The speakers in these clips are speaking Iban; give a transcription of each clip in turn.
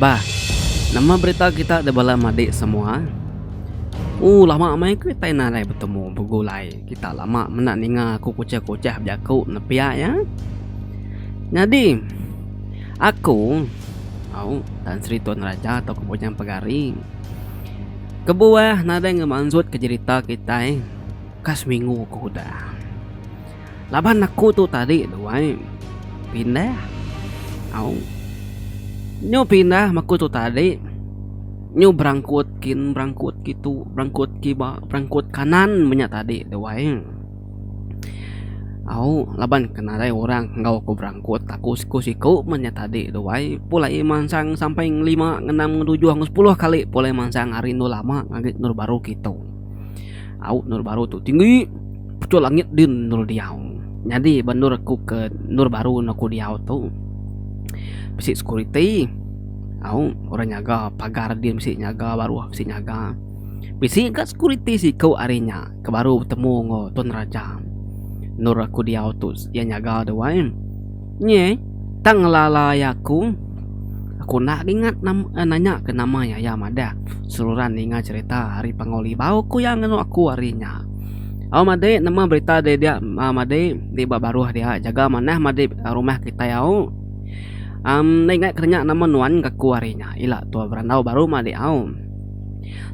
Bah. Nama berita kita da bala madik semua. Ooh lama meh kitai nadai betemu begulai kita lama menda ninga aku kuchah kuchah bejaku nepiak iya. Nyadi aku au Tan Sri Tun Raja tau ke Bujang Pegari kebuah nadai ngemansut ke jerita kitai ka seminggu ke udah. laban aku tu tadi duai pindah au nyu pindah maku tu tadi nyu berangkut kin berangkut kitu berangkut kiba berangkut kanan menya tadi duai au laban kenarai orang enggau aku berangkut aku siku siku menya tadi duai pulai mansang sampai ngelima ngenam ngetujuh ngesepuluh kali pulai mansang hari endo lama ngagai endur baru kitu. Au endur baru tu tinggi pucuk langit din endur diau. Nyadi ba endur aku ke endur baru enda ku diau tu bisi security au orang nyaga pagar din bisi nyaga baruh bisi nyaga. Bisi ga security siku ari nya ke baru betemu enggau tuan raja endur aku diau tu iya nyaga tu ai. Nya eh, tang ngelala iya aku. Aku enda diingat nama nanya ke nama iya, iya madah seruran ninga cherita ari Pangauli bau ku iya ngenu aku ari nya. Au madai nemu berita deh dia madai di ba baruh dia jaga manah madai rumah kitai au. Am enda ingat ke nanya nama nuan ka aku ari nya ila tua berandau baru madai au.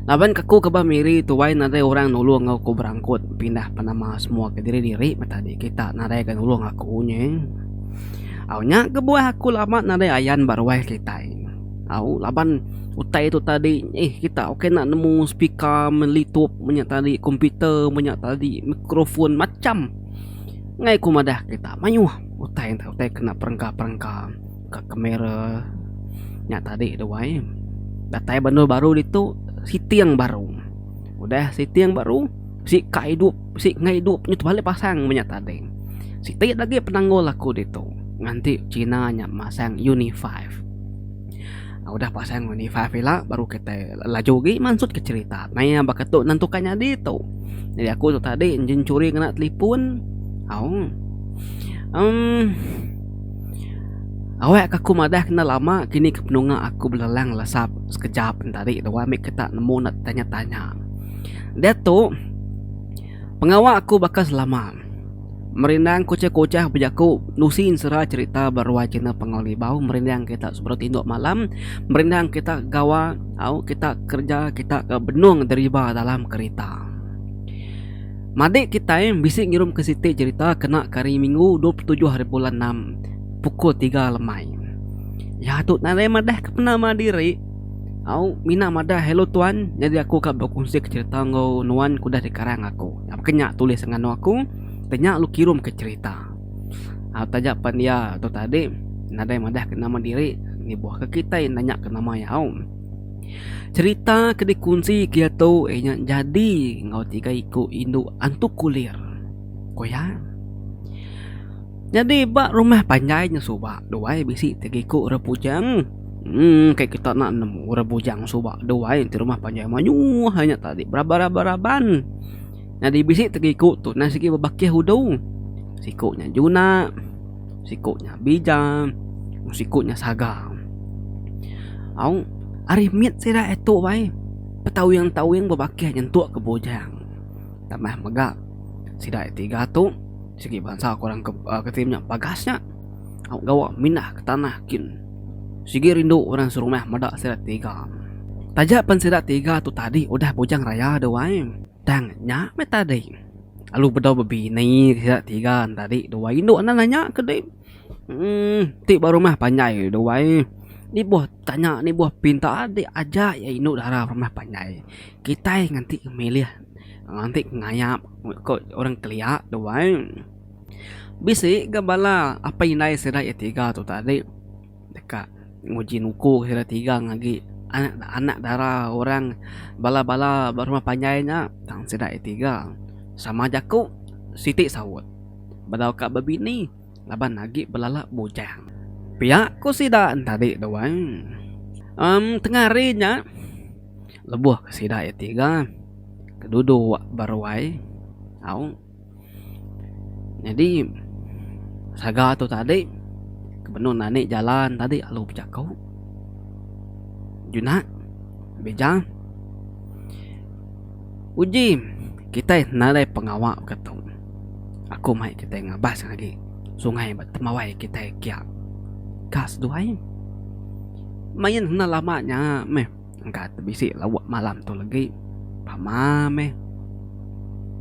Laban ke aku ke bah Miri tuai nadai orang nulung enggau aku berangkut pindah penama semua ke diri diri meh tadi kita nadai ga nulung aku nyeng. Au nya kebuah aku lama nadai ayan ba ruai kitai. Au laban utai tu tadi eh kita ukai enda nemu speaker meh litup meh nya tadi komputer meh nya tadi mikrofon macam ngai ku madah kita mayuh utai utai kena perengka perengka. ka kamera nya tadi tu wai datai banua baru ditu siting baru udah siting baru bisi ka idup bisi nengah idup nya tu balik pasang meh nya tadi siti lagi penanggul aku ditu nganti china nya masang uni five udah pasang uni five ila baru kitai laju agi mansut ka cherita meh iya baka tu nan tukar nyadi tu jadi aku tu tadi engine churi ngena talipun au emm. Awek ka aku madah kena lama kini ke penunga aku belelang lesap sekejap entari dua mih ke tak nemu nak tanya tanya. Diatu pengawa aku baka selama merindang kuchah kuchah bejaku nusi ensera cherita ba ruai china Pangau Libau merindang kita sebedau tindu malam merindang kita gawa au kita kerja kita ke benung deriba dalam kerita. Madik kitai bisi ngirumka siti jerita kena ke Hari Minggu dua puluh tujuh Hari Bulan Enam pukul tiga lemai. Iya tu nadai madah ke penama diri. Au mina madah hello tuan nyadi aku ka bekunsika jerita enggau nuan ke udah dikarang aku. Baka nya tulis nganu aku ke nya lu kirumka jerita. Au taja pan iya tu tadi nadai madah ke nama diri nibuhka kitai nanya ke nama iya au. Cherita ke dikunsi kiatu inya nyadi enggau tiga iku indu antu kulir ku iya. Nyadi ba rumah panjai nya suba duai bisi tiga iku orang bujang uhh kai kita enda nemu orang bujang suba duai ti rumah panjai mayuh inya tadi beraban-beraban. Nyadi bisi tiga iku tu sigi bebakih udu. Siku nya juna. Siku nya bija, siku nya saga. Au, ari mit sida e tu ai betawing-tawing bebakih nyentuk ke bujang. Tambah mega sida e tiga tu sigi bansa ke orang kitai nya bagas nya au gawa mindah ke tanah kin. Sigi rindu orang serumah meda sida tiga. Taja pen sida tiga tu tadi udah bujang raya duai tang nya meh tadi. lalu bedau bebini sida tiga ne tadi dua indu enda nanya ke dei um ti ba rumah panjai dua ai ni boh tanya ni boh pinta adi aja iya indu dara rumah panjai kitai nganti ke milih nganti ke ngayap ko orang kelia dua ai bisi ga bala apai indai sida iya tiga tu tadi. Deka nguji nuku kira tigang agi anak dara orang bala-bala ba rumah panjai nya tang sida iya tiga sama jaku siti saut bedau ka bebini laban agi belala bujang. Pia ku sida tadi tu ai uhh tengah hari nya lebuh ka sida iya tiga ke duduk ba ruai au. Nyadi saga tu tadi ke benun anih jalan tadi lalu bejaku jina beja uji kitai nadai pengawa ka tu aku mai kitai ngabas agi sungai ba temawai kitai kia ka seduai main enda lama nya meh. Engka tebisi lauk malam tu legi. Pama meh.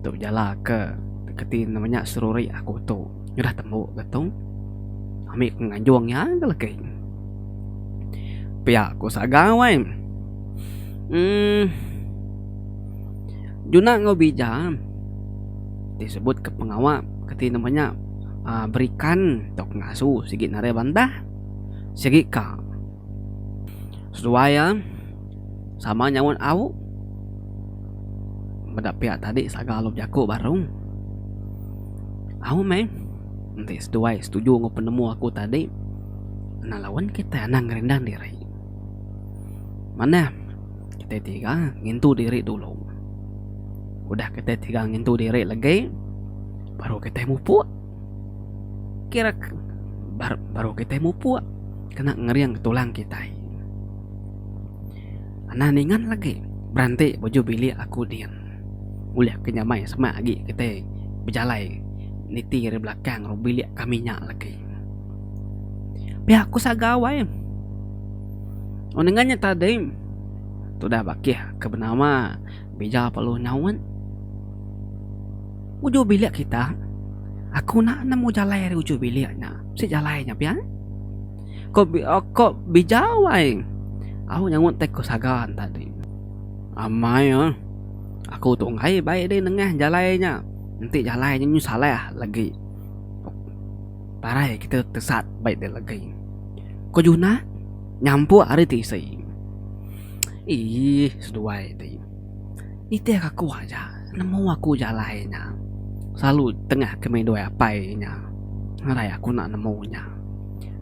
Tu jala ke keti enda menya seruri aku tu udah tembu ke tu. Ami ku nganjung iya ke legi. Pia ku sagau ai. Uhh juna enggau bija ti sebut ke pengawa keti enda menya aaa berikan tau ngasu sigi narai bandar sigi ka. Seduai iya sama nyaut au meda piak tadi saga lu bejaku baru. Au meh enti seduai setuju enggau penemu aku tadi endang lawen kitai anang ngerindang diri. Manah kitai tiga ngintu diri dulu. Udah kitai tiga ngintu diri lagi baru kitai mupuk. Kira baru kitai mupuk kena ngering tulang kitai. Anang ningan lagi beranti bujur bilik aku din ulih ke nyamai semak agi kitai bejalai niti ari belakang bilik kami nya lagi. Pia ku sagau ai wang ningan nya tadi tudah bakih ke benawa. Bija perlu nyaut. Ujur bilik kita. Aku enda nemu jalai ari ujur bilik nya. Bisi jalai nya pia. Ko ko bija wai. Au nyaut tai ku Sagan tadi. Amai eh. Aku tu enggai bai deh nengah jalai nya. Enti jalai nya menyuh salah legi. Parai kita tesat bai deh legi. Ko Junah nyampuk ari tisi. Eii seduai ti nitih aku aja nemu aku aja alai nya selalu tengah ke midoi apai nya ngarai aku enda nemu nya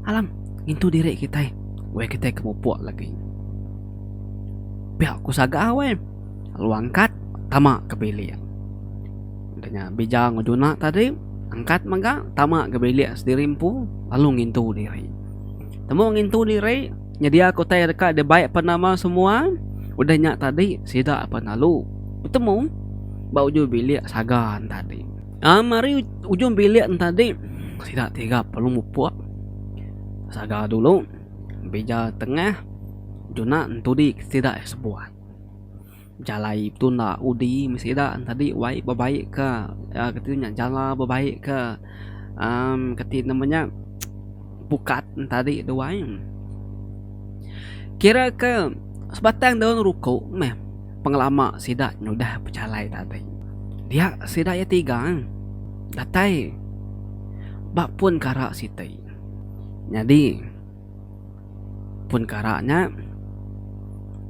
alam ngintu diri kitai weh kitai ke mupuk lagi pia ku sagau weh lalu angkat tama ke bilik dah nya bijang enggau juna tadi angkat mega tama ke bilik sendiri empu lalu ngintu diri temu ngintu diri. Nyediaka utai deka dibai pan nama semua udah nya tadi sida pan lalu betemu ba ujung bilik saga tadi. Um ari ujung bilik tadi sida tiga perlu mupuk saga dulu bija tengah juna entudi sida sebuah. Jalai tu enda udi meh sida tadi wai bebaik ka kati nya jala bebaik ka um kati nama nya pukat tadi tu wai kira ke sebatang daun ruko meh pengelama sida nyudah bejalai tadi dia sida iya tiga datai ba pun kara siti nyadi. Pun kara nya,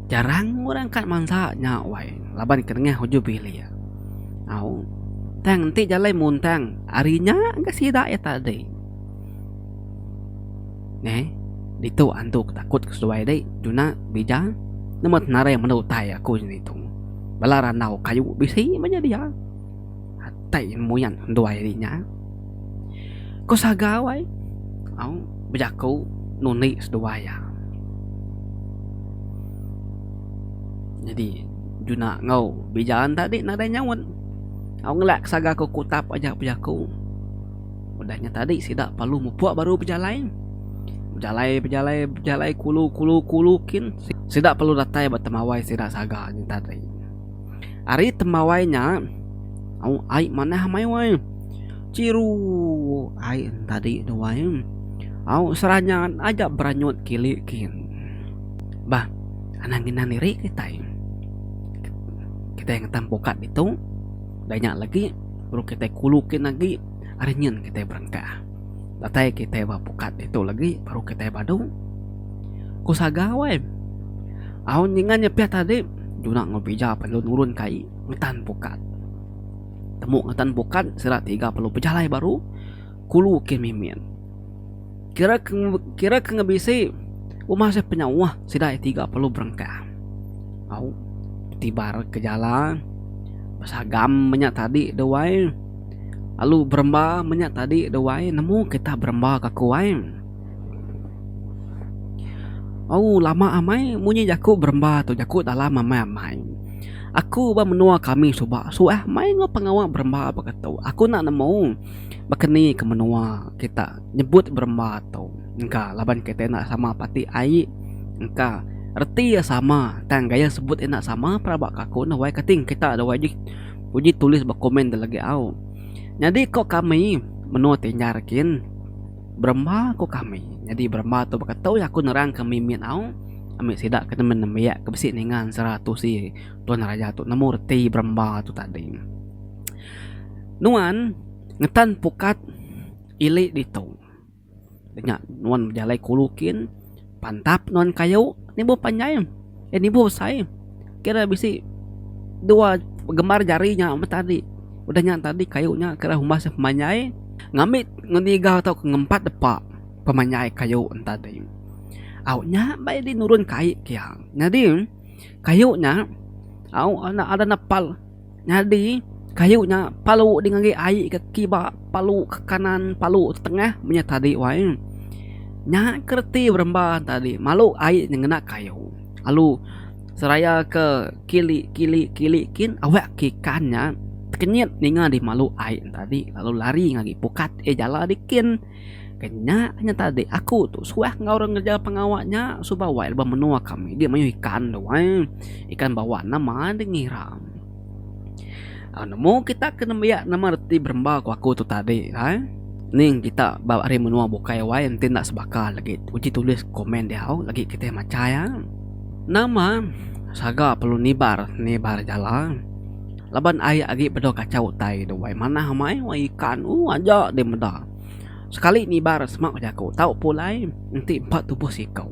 jarang orang kat mansa nya wai laban ke nengah ujung bilik. Au tang enti jalai muntang ari nya ga sida iya tadi. Neh ditu antu ke takut ke seduai dih tuna bija nama tenarai menda utai aku jani tu. Bala randau kayu bisi mah nyadi iya. Atai muyan nduai ri nya. Ko Sagau ai au bejaku nundi seduai iya. Nyadi Juna enggau Bijan tadi nadai nyaut. Au ngelak Sagau ko Kutap aja bejaku. Udah nya tadi sida perlu mupuk baru bejalai. Bejalai bejalai bejalai kulu kulu kulu kin sida perlu datai ba temawai sida Sagau nya tadi. Ari temawai nya, au ai manah mai wai. Chiru ai entadi tu wai. Au Seranyat aja beranyut kili kin. Bah, anang inan diri kitai. Kitai ngetan pukat ditu, da nya lagi baru kitai kulu kin agi ari nyin kitai berengkah. Datai kitai ba pukat ditu lagi baru kitai badu. Ku Sagau ai. Au ninga nyepih tadi Juna enggau Pija perlu nurun ke ai ngetan pukat. Temu ngetan pukat sida tiga perlu bejalai baru kulu ke mimin. Kira ke kira ke ngebisi rumah seh penyauh sida iya tiga perlu berengkah. Au betibar ke jala besagam menya tadi deh wai. Alu beremba menya tadi dah wai nemu kita beremba ka aku ai. Au lama amai munyi jaku beremba tu jaku dalam amai amai. Aku ba menua kami suba suah mai enggau pengawa beremba baka tu. Aku enda nemu baka ni ke menua kita nyebut beremba tu. Engka laban kita enda sama pati ai engka reti iya sama tang gaya sebut iya enda sama peranak aku dah wai kating kita dah wai ji. Uji tulis ba komen tu lagi au. Nyadi ko kami menua ti nyar kin beremba ko kami. Nyadi beremba tu baka tu aku nerang ke mimit au ami sida ke nemu nembiak ke bisi ninga ensera tusi tuan raja tu nemu reti beremba tu tadi. Nuan ngetan pukat ili ditu. Nya nuan bejalai kulu kin pantap nuan kayu nibuh panjai eh nibuh besai kira bisi dua gembar jari nya meh tadi udah nya tadi kayu nya kira umbah seh pemanjai ngambi ngeniga tau ngempat depa pemanjai kayu nya tadi au nya mbai di nurun kai pia nyadi kayu nya au enda ada nepal. Nyadi, kayu nya palu dih ngagai ai ke kiba, palu ke kanan, palu ke tengah menya tadi wai. Nya ke reti beremba ne tadi malu ai nya ngena kayu lalu seraya ke kili kili kili kin awe ke ikan nya tekenyit ninga dih malu ai ne tadi lalu lari ngagai pukat eh jala dih kin. Ke nya kena tadi aku tu suah enggau orang ngereja pengawa nya suba wai lebuh menua kami di mayuh ikan tu ai. Ikan bawa nama deh ngiram. Au nemu kita ke nembiak nama reti beremba ku aku tu tadi ai. Ning kita ba ari menua bukai wai enti enda sebaka lagi uji tulis komen diau lagi kitai machai ai. Nama saga perlu nibar nibar jala. Laban ai agi bedau kachau utai tu wai manah amai wai ikan uh aja deh meda. Sekali nibar sema ku jaku tau pulai enti empa tubuh siko.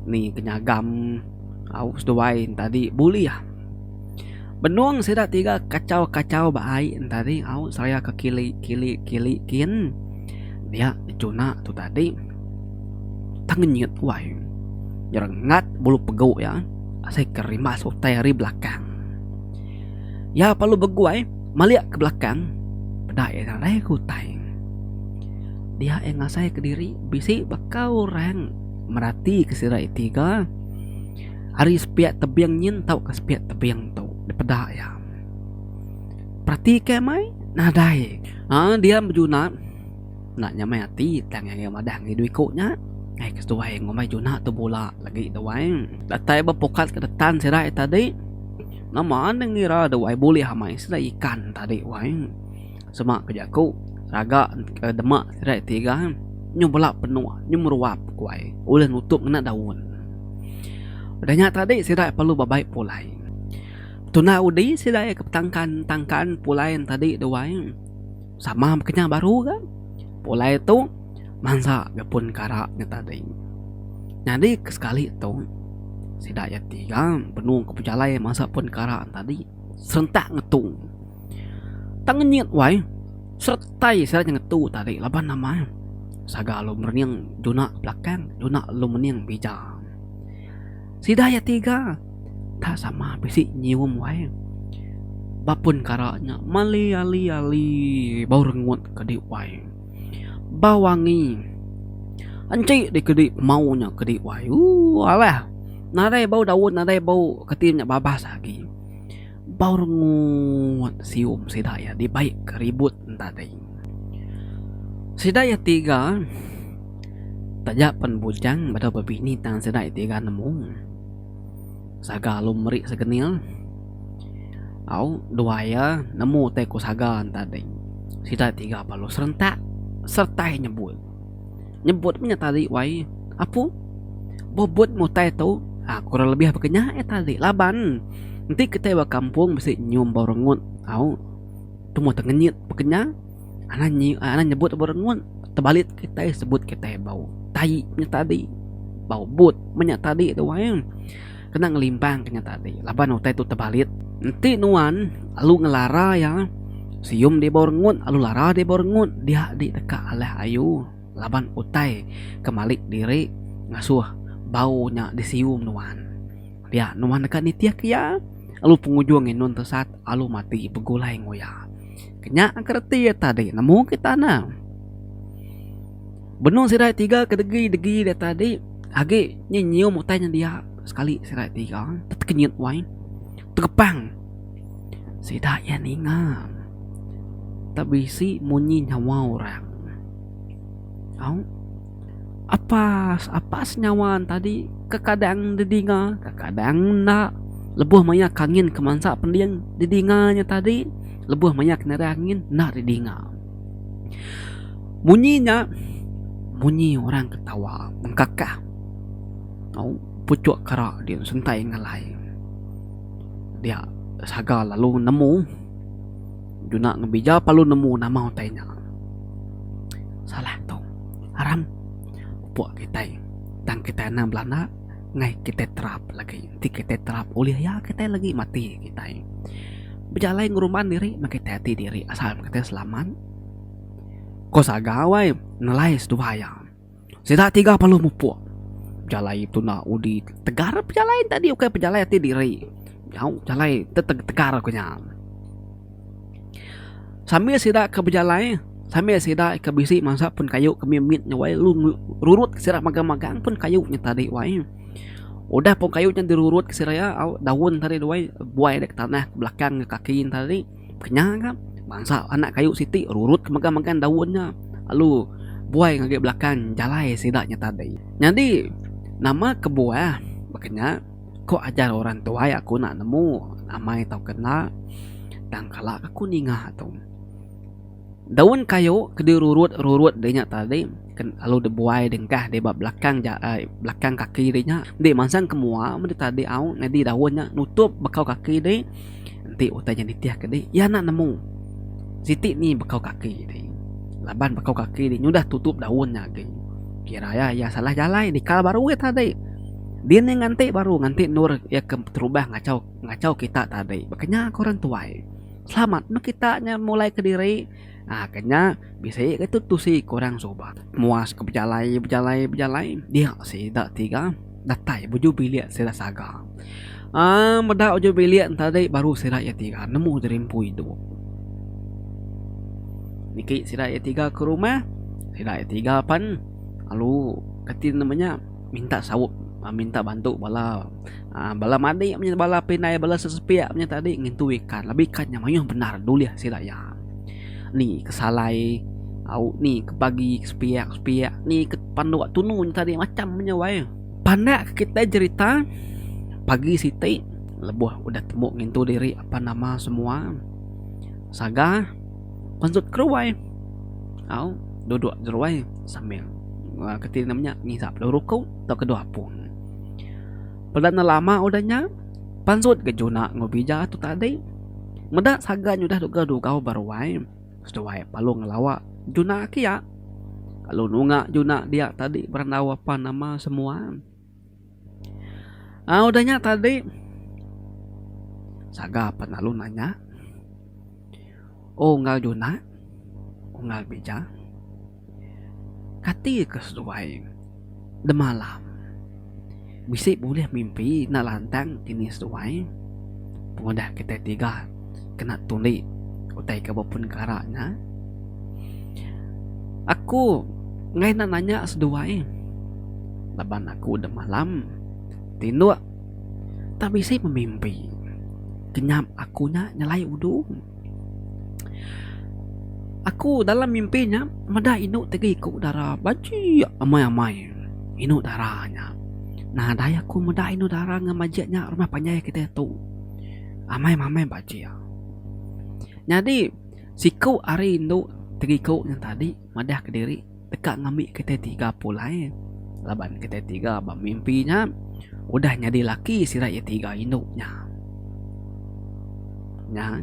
Ni ke nyagam au seduai tadi bulih. Benung sida tiga kachau-kachau ba ai tadi au seraya ke kili kili kili kin. Nya Juna tu tadi tang ngenyit wai nyerengat bulu pegu iya asai ke rimas utai ari belakang. Iya lalu beguai malik ke belakang peda iya ngagai ke utai. Dia iya ngasai ke diri bisi baka orang merati ke sida iya tiga ari sepiak tebing nyin tauka sepiak tebing tu dipeda iya. Peratika iya mai nadai. Haa diam bejunat enda nyamai ati tang ngagai madah ngagai dua iko nya ngagai ke seduai ngumbai junat tu bula lagi enda wai datai ba pokat ke detan sida ita tadi nama enda ngira enda wai bulih amai sida ikan tadi wai sema ke jaku raga dema sida tiga nyu bela penuh nyu meruap ku ai ulih nutup ngena daun udah nya tadi sida perlu bebai pulai. Tuna udi sida iya ke petangkan tangkan pulai tadi tu wai sama ba kenyah baru ga pulai tu mansa ga pun kara nya tadi nyadi ke sekali tu sida iya ti ga benung ke pejalai mansa pun kara tadi serentak ngetu tang ngenyit wai seretai sida nya ngetu tadi laban nama saga lu merening juna belakang juna lu mening bija. Sida iya tiga tak sama bisi nyium wai. Ba pun kara nya mali ali-ali bau rengut ke di wai. Ba wangi enti dikedi pemau nya ke di wai ooh alah nadai bau daun nadai bau keti nya babas agi. Baurngut sium sida iya dibai ke ribut entadai. Sida iya tiga taja pen bujang bedau bebini tang sida iya tiga nemu saga alu meri segenil au dua iya nemu utai ku saga entadai. Sida tiga balu serentak sertai nyebut. nyebut meh nya tali wai apu bobot mutai tu aaa kurang lebih baka nya eh tali laban enti kitai ba kampung bisi nyium bau rengut au tumoh tengenyit baka nya anan nyi anan nyebut bau rengut tebalit kitai sebut kitai bau tai nya tadi bau but meh nya tadi tu wai. kena ngelimbangka nya tadi laban utai tu tebalit enti nuan alu ngelara iya sium di bawah rengut alu lara di bawah rengut dia di teka alah ayu laban utai ke malik diri ngasuh bau nya di sium nuan dia nuan deka nitihka iya alu pengujung inun tesat alu mati begulai enggau iya ke nya ke reti iya tadi nemu kita ne. Benung sida tiga kedegi degi dia tadi agi nyi nyium utai nya dia sekali sida tiga tekenyit wai tegepang sida iya ninga tak bisi munyi nyawa orang au apas apas nyawa tadi kekadang didinga kekadang enda lebuh maya ke angin kemansa pending didinga nya tadi lebuh maya ke nira angin enda didinga. Munyi nya munyi orang ketawa mengkakah tau puchok kara dia sentai ngalai dia saga lalu nemu juna ngebija lalu nemu nama utai nya salah tau aram pupok kitai tang kitai anang belanda. Ngai kitai terap lagi enti kitai terap ulih iya kitai lagi mati kitai. Bejalai ngeruman diri meh kitai ati diri asal meh kitai selamat. Ko sagau ai nelai seduai iya. Sida tiga perlu mupuk bejalai tuna udi tegar bejalai enti adi ukai bejalai ati diri. Nyau bejalai te tegar ku nya. Sambil sida ke bejalai, sambil sida ke bisi mansap pun kayu ke mit mit nya wai lalu rurut sida magang magang pun kayu nya tadi wai. Udah pun kayu nya di rurut sida iya au daun tadi wai buai nda ke tanah belakang nda kaki ne tadi kenya ka bansa anak kayu siti rurut ke megang megang daun nya lalu buai ngagai belakang jalai sida nya tadi. Nyadi nama kebuah ba kenya. Ko ajar orang tuai aku enda nemu amai tauka enda tang kala ke aku ninga tu daun kayu ke dirurut-rurut deh nya tadi lalu dibuai dengkah deh ba belakang jai belakang kaki deh nya enti mansang ke mua meri tadi au nyadi daun nya nutup bekau kaki deh. Enti utai nya nitihka dih, iya enda nemu. Siti ni bekau kaki dih. Laban bekau kaki dih nyudah tutup daun nya agi. Kira iya, iya salah jalai nikal baru iya tadi. Din iya nganti baru nganti endur iya ke beterubah ngachau ngachau kita tadi. Baka nya ku orang tuai. Selamat meh kita nya mulai kediri. Ah kenya bisi ga tu tusi ke orang suba muas ke bejalai bejalai bejalai dia sida tiga datai bujur bilik sida saga aaa meda ujur bilik tadi baru sida iya tiga nemu diri empu idup niki sida iya tiga ke rumah sida iya tiga pen lalu reti ne menya minta saup minta bantu bala Haa bala manik menya bala pinai bala sesepiak menya tadi ngintu ikan labi ikan nya mayuh bendar dulih sida iya. Ni ke salai au ni ke pagi ke sepiak sepiak ni ke panduk tunu nya tadi macam menya wai. Pandak ke kitai jerita pagi siti lebuh udah tembu ngintu diri apan nama semua saga pensut keruai au duduk jeruai sambil aa keti nama nya ngisap lalu ruku tauka dua apung. Peda enda lama udah nya, pansut ke Juna enggau Bija tu tadi. Meda saga nya udah deka dugau ba ruai, seduai lalu ngelawa Juna kia. Lalu nunga Juna dia tadi berandau apan nama semua. Aa udah nya tadi, saga pan lalu nanya, Unggal Juna, Unggal Bija. Kati ke seduai demalam bisi bulih mimpi enda lantang ke ni seduai pengudah kitai tiga kena tuli utai ke bepun kara nya. Aku enggai enda nanya seduai laban aku demalam tinduk tak bisi pemimpi kenyap aku nya nyelai udu. Aku dalam mimpi nya meda indu ti agi ku dara bajik amai amai indu dara nya nah dai aku meda indu dara ngan bajik nya rumah panjai kitai tu amai amai bajik nyadi siku ari indu ti agi ku tadi madah kediri. deka ngambi kitai tiga pulai laban kitai tiga ba mimpi nya udah nyadi laki sida iya tiga indu nya. Nya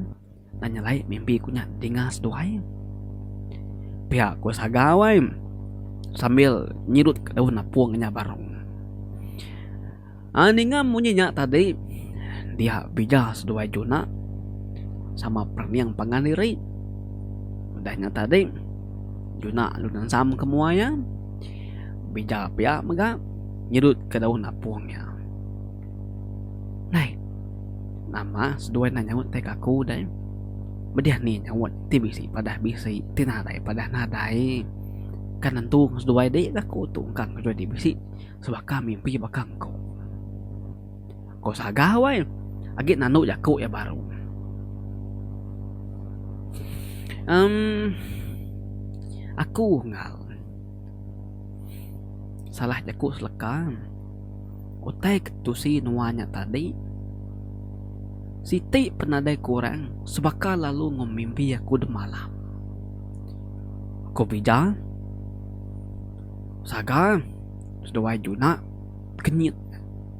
enda nyelai mimpi ku nya dinga seduai. Pia ku sagau ai sambil nyirut daun napung inya barung. Ninga munyi nya tadi, dia bija seduai Juna sama perening pangan diri. Udah nya tadi, Juna lalu nensam ke mua iya. Bija pia mega nyedutka daun apung iya. Nai, nama seduai enda nyaut tai ke aku deh? Pedih ni nyaut ti bisi padah bisi, ti nadai padah nadai. Kan nentu seduai dikah ku tu engka seduai ti bisi. Sebab ka mimpi baka engku. Ko Saga wai agi nanu jaku iya baru. Em aku enggau salah jaku seleka utai ke tusi nuan nya tadi siti pun nadai kurang sebaka lalu enggau mimpi aku demalam. Ko Bija. Saga seduai juna kenyit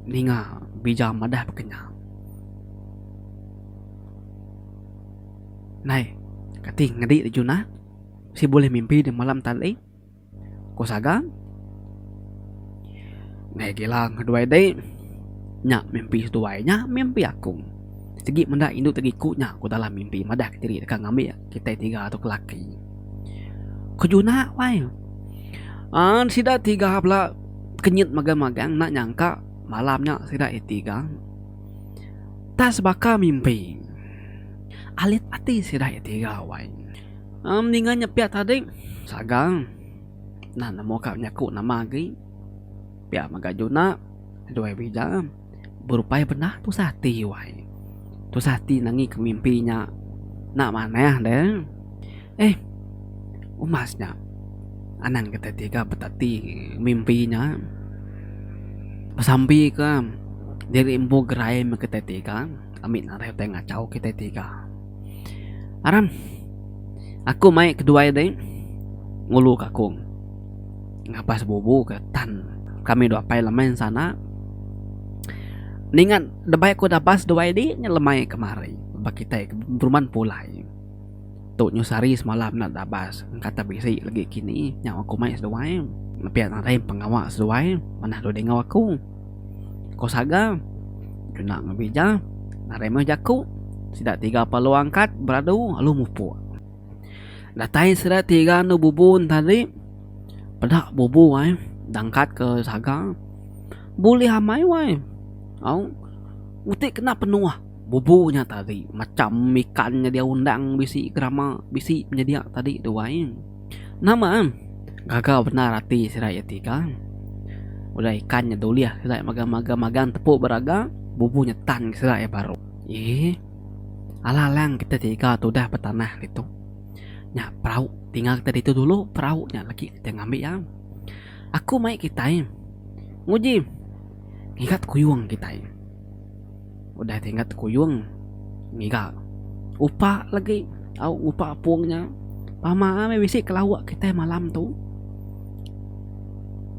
ninga bija madah bekenyah. Nai kati ngedi da juna si bulih mimpi da malam tali ku Saga. Nai gila ngeduai dei nya mimpi seduai nya mimpi aku sigi menda indu tagiku nya ku dalam mimpi madah diri deka ngambi. Kitai tiga tu kelaki. Kejunak wai. An sida tiga pula kenyit magang-magang enda nyangka malam nya sida iya tiga tak sebaka mimpi. Alit ati sida iya tiga wai. Am ninga nyepiak tadi saga nah nemu ka nyaku nama agi. Pia mega junak dua bija. berupai benah tusah ati wai. Tusah ati nangi ke mimpi nya enda manah deh. Eh umas nya anang kitai ti ga betati mimpi nya besambi ke diri empu gerai meh kitai ti ga ami nadai utai ngachau kitai ti ga. Aram aku mai keduai deh ngulu ka aku. Ngabas bubu ke tan kami dua pai lemai ensana ninga debai ku dabas dua idi nya lemai kemari ba kitai ke peruman pulai tu nyu sehari semalam enda dabas engka te bisi legi kini nya wang ku mai seduai pia nadai pengawa seduai manah dudi enggau aku ko saga kena ngebija nadai meh jaku sida tiga pa alu angkat beradu alu mupuk. Datai sida tiga anu bubu tadi. Peda bubu ai dangkat ke saga. Bulih amai wai. Au uti kena penuah bubu nya tadi macham ikan nyedia undang bisi gerama bisi penyedia tadi tu ai. Nama am gaga bendar ati sida iya tiga. Udah ikan nya dulih sida magang magang magang tepu beraga bubu nya tan sida iya baru. Ye. Alang-alang kita tiga tu udah betanah ditu. Nya perau tinggal kita ditu dulu, perau nya lagi kita ngambi iya. Aku mai kitai nguji ngiga tekuyung kitai. Udah ti ngiga tekuyung, ngiga upa lagi au ngupa apung nya. Pama meh bisi ke lauk kitai malam tu.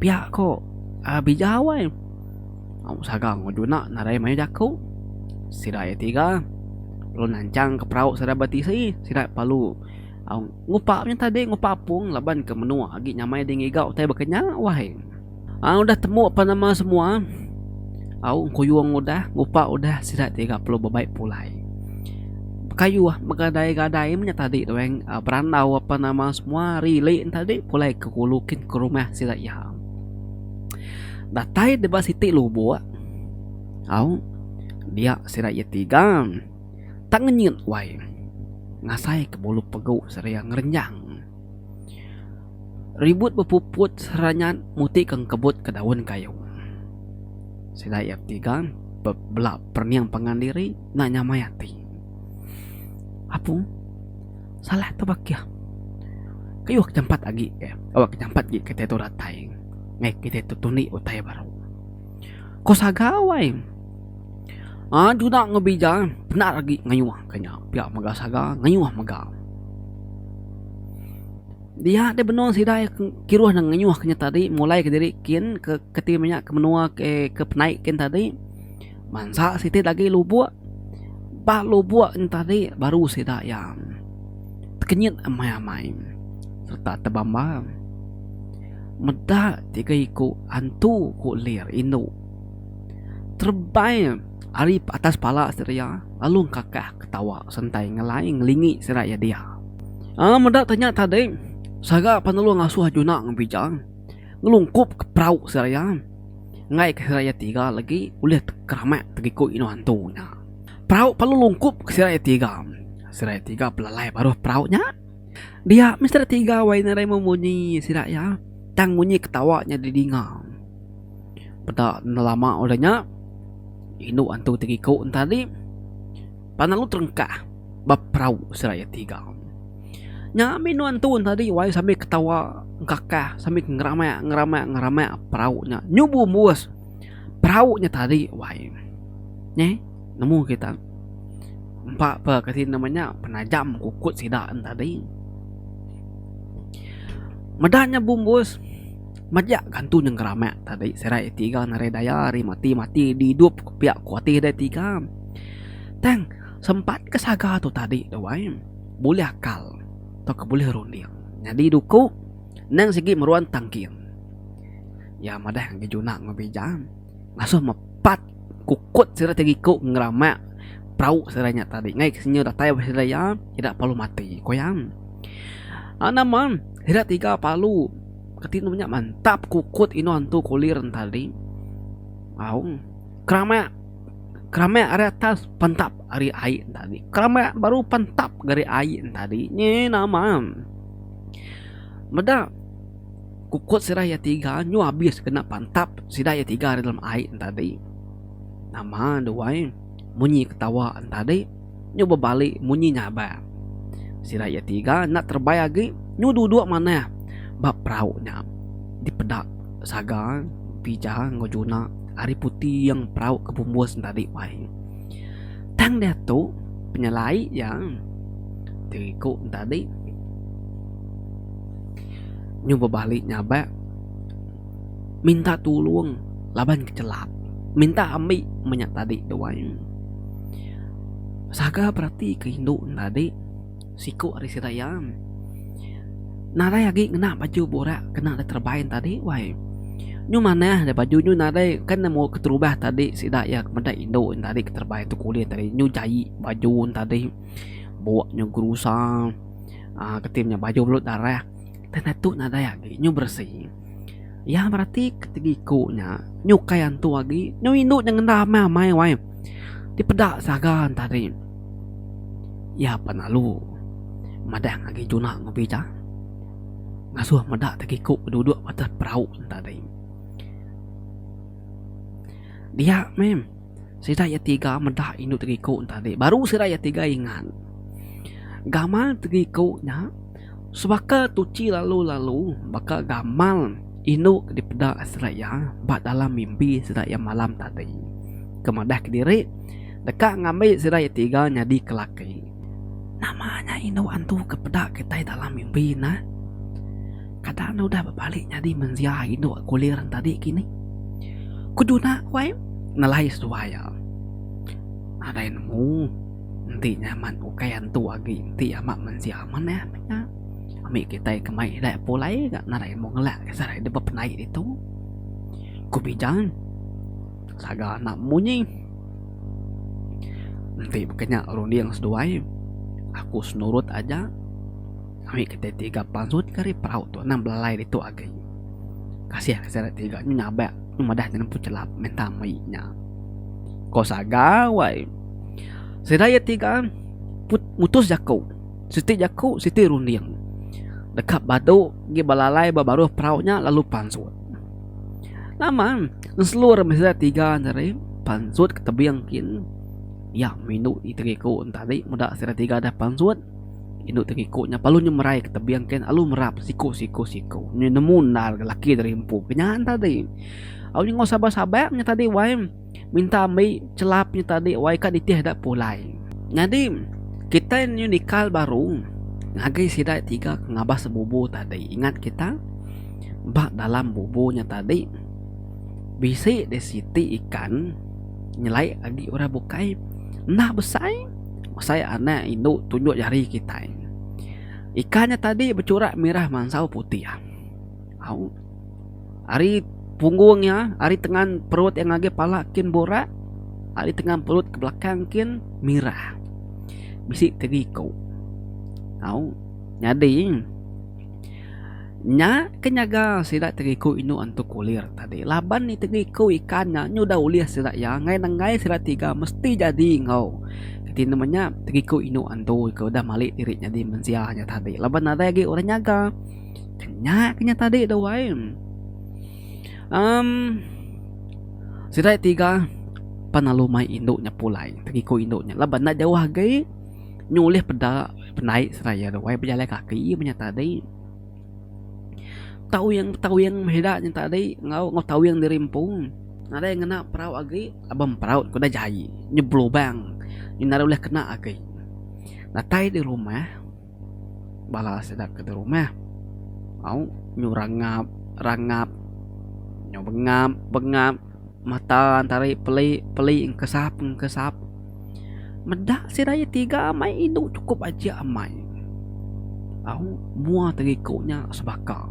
Pia ko, uhh bijau ai. Aum Saga enggau Juna nadai mayuh jaku. Sida iya tiga lalu nanchangka perau sida betisi. Sida perlu aum ngupa nya tadi ngupa apung laban ke menua agi nyamai ding iga utai bekenya wahai. Aum udah temu apan nama semua aum kuyung udah ngupa udah sida tiga perlu bebai pulai. Bekayuh begadai-gadai menya tadi tuan berandau apan nama semua rili ne tadi pulai ke kulu kin ke rumah sida iya. Datai deba siti lubok. Au, dia sida iya tiga. Tang ngenyit wai. Ngasai ke bulu pegu sida iya ngerenjang. Ribut bepuput sida nya muti ke ngkebut ke daun kayu. Sida iya tiga bela perening pangan diri enda nyamai ati. Apu. Salah tu bakih. Keyuh ke jampat agi ke awak ke jampat agi kitai tu datai meh kitai tu tunik utai baru. Ko saga wai. Aa juna enggau bija penat agi ngeyuh ke nya pia mega saga ngeyuh mega. Dia deh benung sida ke kiruh ne ngeyuh ke nya tadi mulai ke diri kin ke keti menya ke menua ke ke penai kin tadi. Mansa siti agi lubuk. Ba lubuk nya tadi baru sida iya tekenyit amai-amai sereta tebamba meda tiga iku antu ku lir indu terebai ari atas pala sida iya lalu engkakah ketawa sentai ngelai ngelingi sida iya dia. Aaa meda nya tadi saga penelu ngasuh Juna ngan Bijang. ngelungkup ke perau seraya enggai ke seraya tiga legi ulih tekeramak tegiku inu antu nya. Perau perlu lungkup ke seraya tiga, seraya tiga pelalai baruh perau nya. Dia mih seraya tiga wai nadai meh munyi sida iya tang munyi ketawa nya didinga. Peda nelama udah nya indu antu tegiku enti agi. Pan lalu terengkah ba perau seraya tiga. Nya ambi nuan tun tadi wai sambil ketawa engkakah sambil ngeramak-ngeramak-ngeramak perau nya nyubu embus perau nya tadi wai. Neh nemu kita empa pa kati nama nya penajam kukut sida tadi. Meda nya bumbus. Majak gantu nyengeramak tadi serai iti ga narai daya ari mati mati diidup ka pia ku ati deh iti ga. Tang sempat ke saga tu tadi tu ai bulih akal tauka bulih runding nyadi duku nang sigi meruan tangking. Iya madah ngagai juna enggau bija ngasuh mepat kukut sida ti giku ngeramak perau sida nya tadi ngai kesinga datai ba sida iya ida perlu mati ku iya. Nama sida tiga perlu. Kati enda nya mantap kukut inu antu kulir entali aung keramak keramak ari atas pantap ari ai entali keramak baru pantap ari ai entali nyi nama meda kukut sida iya tiga nyu abis kena pantap sida iya tiga ari dalam ai entali nama duai munyi ketawa entali. nyu bebali munyi nyabar. Sida iya tiga enda terebai agi nyu duduk manah ba perau nya dipeda Saga, Pija enggau Juna ari putiing perau ke bumbus nya tadi bai. Tang diatu penyelai iya ti iku nya tadi nyu bebali nyabar. minta tulung laban kechelap minta ambi menya tadi tu ai saga berati ke indu enda ade siko ari sida iya nadai agi ngena baju burak kena dep terebai tadi wai nyu manah baju nyu nadai kan nemu keterubah tadi sida iya ke meda indu enda ade keterebai tok kulih tadi nyu jai baju tadi bok nyu gerusa uhh keti menya baju belut darah. Tanda tu nadai agi nyu beresi. Iya berati ketegi iku nya nyu kai antu agi nyu indu nya ngenda amai-amai wai. Dipeda saga entah deh. Iya pan lalu madah agi tuna ngubi ja. Ngasuh meda tegi iku ke duduk atas perau entah deh. Dia meh sida iya tiga meda indu tegi iku entah deh. Baru sida iya tiga ingat gamal tegi iku nya. Sebaka tuchi lalu-lalu baka gamal indu ke dipeda sida iya ba dalam mimpi sida iya malam tadi ke madah kediri deka ngambi sida iya tiga nyadi ke laki. Nama nya indu antu ke peda kitai dalam mimpi nya? Kada ne udah bebali nyadi mensia indu ke kulir tadi kini? Ku Juna ku ai nelai seduai iya. Nadai nemu. Enti nya amat ukai antu agi enti amat mensia amat neh meh nya. Ami kitai ke mai ila pulai ga ngarai mu ngelak ke sarai dep bepenai ditu. Ku Bijal saga anak munyi. Enti baka nya runding seduai aku senurut aja. Ami kitai tiga pansut ke ari perau tu anang belalai ditu agi. Kasih ke sida tiga nyu nyabak nyu madah nyerempu chelap minta mai nya. Ko saga wai. Sida iya ti ga mutus jaku. Siti jaku siti runding. Deka badu ngi belalai ba baruh perau nya lalu pansut. Nama ngeselur mih sida tiga ne tadi pansut ke tebing kin iya minu iti iku ne tadi meda sida tiga deh pansut indu ti iku nya lalu nyemerai ke tebing kin lalu merap siku siku siku nemu endar lelaki tadi empu ke nya tadi. Au nya enggau sabar sabar nya tadi wai. minta ambi chelap nya tadi wai ka nitih da pulai. Nyadi kitai nyau nikal baru ngagai sida tiga ke ngabas bubu tadi. Ingat kita ba dalam bubu nya tadi bisi deh siti ikan nyelai agi orang bukai enda besai besai anak indu tunjuk jari kitai. Ikan nya tadi bechurak merah mansau putih. Au. Ari punggung iya, ari tengan perut iya ngagai pala kin burak, ari tengan perut ke belakang kin mirah. Bisi tiga iku. Au. Nyadi, nya ke nyaga sida tiga iku indu antu kulir tadi laban nya tiga iku ikan nya udah ulih sida iya ngagai nenggai sida tiga mesti jadi enggau reti ne menya tiga iku indu antu ke udah malik diri nyadi mensia nya tadi laban nadai agi orang nyaga. Kenya kenya tadi tu wai. Um sida tiga pan lalu mai indu nya pulai tegiku indu nya laban enda jauh agi nyulih peda penai seraya tu wai bejalai kaki menya tadi. Tawing tawing meh ida nya tadi enggau enggau tawing diri empu nadai ngena perau agi laban perau ku dah jai nya belubang enda deh kena agi. Datai di rumah. bala sida ke di rumah au nyu rangap rangap nyu bengap bengap mata tari peli peli kesap kesap meda sida aja tiga meh indu chukup aja amai au mua ti iku nya sebaka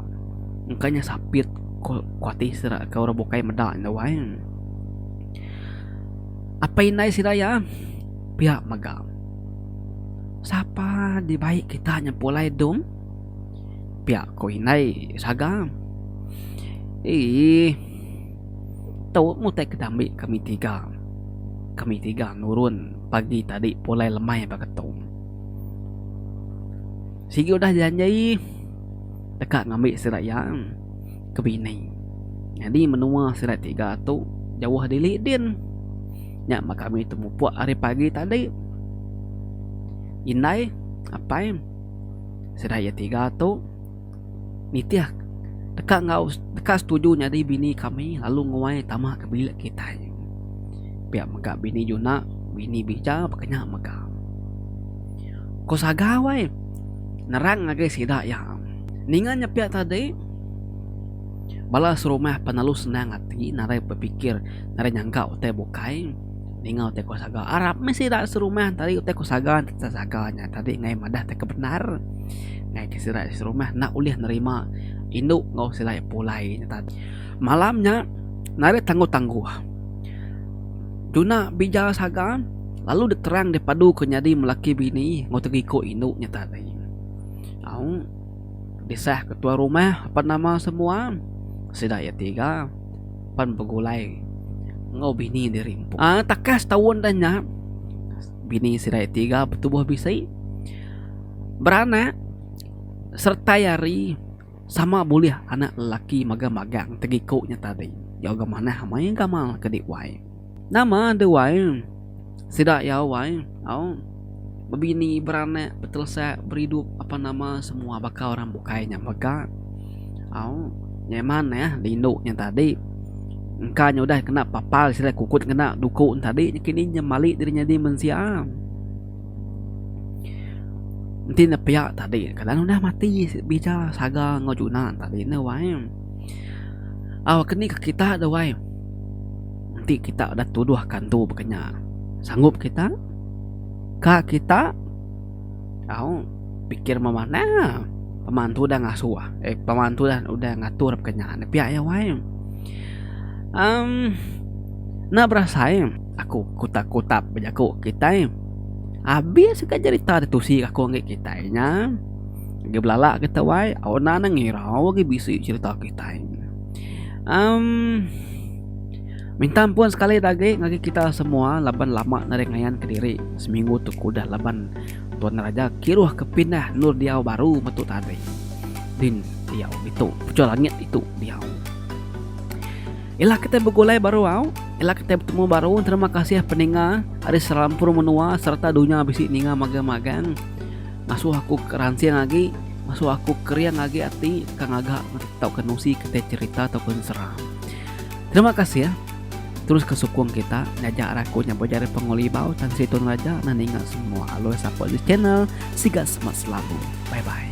engka nya sapit ku ati sida ke orang bukai meda nya wai apai indai sida iya pia mega. Sapa dibai kita nya pulai dom? pia ko indai saga. Eii tu utai ke diambi kami tiga, kami tiga nurun pagi tadi pulai lemai baka tu. Sigi udah janji deka ngambi sida iya. ke bini. Nyadi menua sida tiga tu jauh dili din. Nya bah kami temupuk ari pagi tadi. Indai, apai, sida iya tiga tu nitih deka enggau deka setuju nyadi bini kami lalu nguai tama ke bilik kitai. Pia mega bini Juna, bini Bija pekenya mega. Ko sagau ai. nerang ngagai sida iya. Ninga nyepiak tadi, bala serumah penelu senang ati nadai bepikir nadai nyangka utai bukai ninga utai kuasa ga. Arap meh sida serumah tadi utai kuasa ga tetap saga nya tadi ngagai madah utai ke bendar ngagai sida serumah enda ulih nerima indu enggau sida pulai nya tadi. Malam nya nadai tangguh-tangguh. Tuna bija saga lalu diterang dipadu ke nyadi melaki bini enggau tega iko indu nya tadi. Au disah ke tuan rumah apan nama semua sida iya tiga pan begulai enggau bini diri empu. Ai takat setaun dah nya bini sida iya tiga betubuh bisi beranak sertai ari Sama bulih anak lelaki mega magang tegiku nya tadi. Jauh ga manah amai gamal ke di wai. Nama de wai? Sida iya wai? Au. Bebini, beranak, betelesa, beridup apan nama semua baka orang bukai nya mega. Au. Nyai manah di indu nya tadi. Engka nya udah kena papal sida kukut ngena duku nya tadi. Nyekini nya mali diri nyadi mensia. Enti ne pia tadi kala ne udah mati bija saga enggau juna ne tadi ene wai au ke ni ke kita de wai enti kita udah tuduh ke antu baka nya sanggup kita ka kita au pikir meh manah la pema antu udah ngasuh eh pema antu udah ngatur baka nya pia iya wai emm enda berasai. aku kutak kutak bejaku kitai abis ka jerita tusi aku ngi kitai nya agi belala kita wai enda ngirau agi bisi jerita kitai um minta ampun sekali dah agi ngagai kita semua laban lama nari ngayan kediri seminggu tu ke udah laban tuan raja kiruh ke pindah endur diau baru metu tading din diau ditu pejuan langit ditu diau. Ila kitai begulai baru au, ila kitai betemu baru terima kasih peninga ari serampur menua sereta dunya bisi ninga magang-magang ngasuh aku ke ransing agi ngasuh aku kering agi ati ka ngaga tauka nusi kitai cherita tauka sera. Terima kasih terus ke sukung kita ngajar aku nya bejari ari Pengulibau Tan Sri Tun Raja nah ninga semua aloi support this channel siga semak selalu bye bye.